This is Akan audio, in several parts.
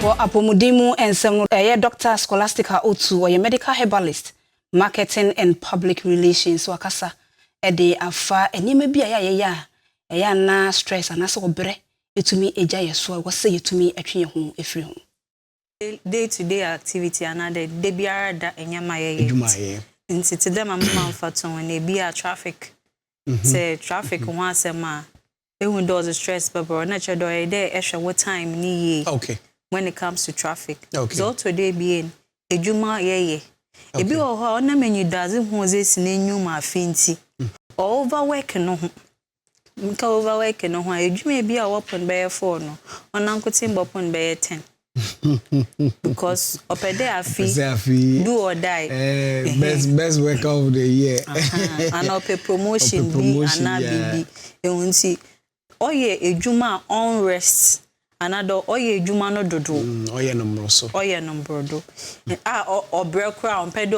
Wɔ apɔmuden mu nsɛm no do, ɛyɛ Dɔkta Scholastica Otu, ɔyɛ Medical Herbalist, Marketing and Public Relations, wakasa de afa nneɛma bi a ɛyɛ a yɛyɛ a ɛyɛ a na stress anaasɛ ɔbrɛ tumi gya yɛn so a ɛwɔ sɛ yɛtumi twe yɛn ho firi ho. day to day activity anaa dɛ da biara da nneɛma a yɛyɛ Adwuma a yɛyɛ. nti te dɛ ma mema mfatoho no, ebia traffic, sɛ traffic ho asɛm a, Ehu dɛ ɔdze stress bɛbrɛ wo na kyerɛ dɛ ɔyɛ dɛ ehwɛ wo time no yie when it comes to traffic. Dza ɔtɔ do ebien, edwuma yɛyɛ. Bi wɔ hɔ a ɔnam enyidoadze hu ɔdze esi n'enyiwa mu afe ntsi ɔ over work no ho. Meka over work no ho a, edwuma bi a ɔwɔ pon bɛyɛ four no, ɔnankotsee mbɔpon bɛyɛ ten. because ɔpɛ dɛ afi Ɔsɛ afi do or die eh, best best worker of the year ana ɔpɛ promotion bi ana biribi ehu nti ɔyɛ edwuma a ɔnrest ana dɛ ɔyɛ edwuma no dodo mm, ɔyɛ no mborɔso ɔyɛ no mborɔdo a ɔbrɛ koraa ɔmpɛ dɛ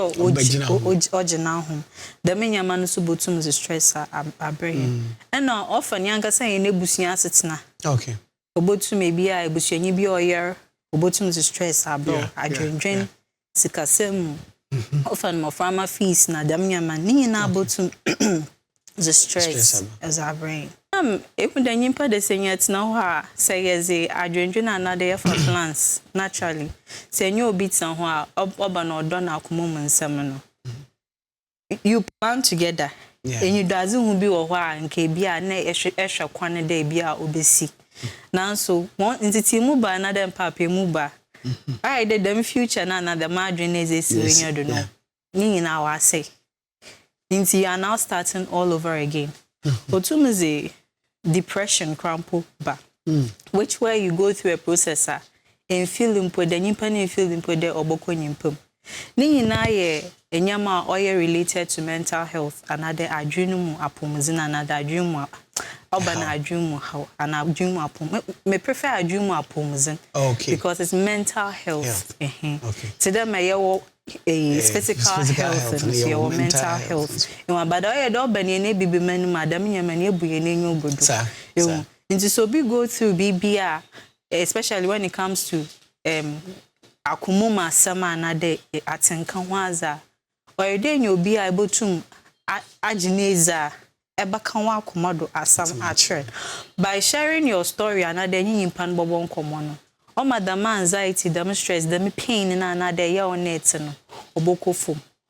ɔgyina ho dɛm nneɛma no so botum dze stress abrɛ hɛn mm. ɛna ɔfa ne ankasa hɛn ebusua asetsena okay Obotum ebi a ebusuanyi bi a ɔyar obotum dze stress abrɛ wo, adwendwen, sikasɛm mu, ɔfa no mboframba fees na dɛm ndzɛmba no ne nyina botum dze stress dze abrɛ hɛn. Nna mehu dɛ nyimpa dɛ sɛ hɛn tsena hɔ a sɛ yɛdze adwendwen anaadɛ yɛfa plans naturally sɛ enye obi tsena hɔ a ɔba na ɔdɔ no akoma mu nsɛm no. you plan together enyidoadzehu bi wɔ hɔ a nka bi a nna ehwɛ kwan dɛ bi a obesi naaso hɔn ntsetsee mu ba anaa dɛ mpaapaa mu ba a ayɛ dɛ dɛm future no anaa dɛm adwen no edze esi w'enyiwa do no ne nyina ɔasɛe ntsi you are now starting all over again otum dze depression koraa mpo ba which where you go through a process a ɛnfeeli mpo dɛ nyimpa no nfeeli mpo dɛ ɔbɔkɔ nyimpa mu. Ne nyina yɛ ndzɛmba a ɔyɛ related to mental health anaadɛ adwen no mu apɔwmudzen anaadɛ adwen mu ɔba no adwen mu haw anaa adwen mu apɔwmu me prefer adwen mu apɔwmudzen because it's mental health ɛhɛn tse dɛ ma yɛwɔ eh, eh physical, physical health, health no so yɛwɔ mental health ɛwɔ abada ɔyɛ dɛ ɔba nea n'ebi bi ma no mu a dɛm nneɛma no ebu yɛn enyi ogu do ewu nti so obi go through biribi a eh, especially when it comes to um, akoma mu asɛm a anadɛ eh, atenka ho adze a ɔyɛ dɛ nya obi a ebotum agye n'edzi a bɛka wo akoma do asɛm akyerɛ. By sharing your story anaadɛ enye nyimpa no bɔbɔ nkɔmbɔ no, ɔma dɛm anxiety, dɛm stress, dɛm pain no a nna adɛ eyaw no na etse no, ɔbɔkɔ famu.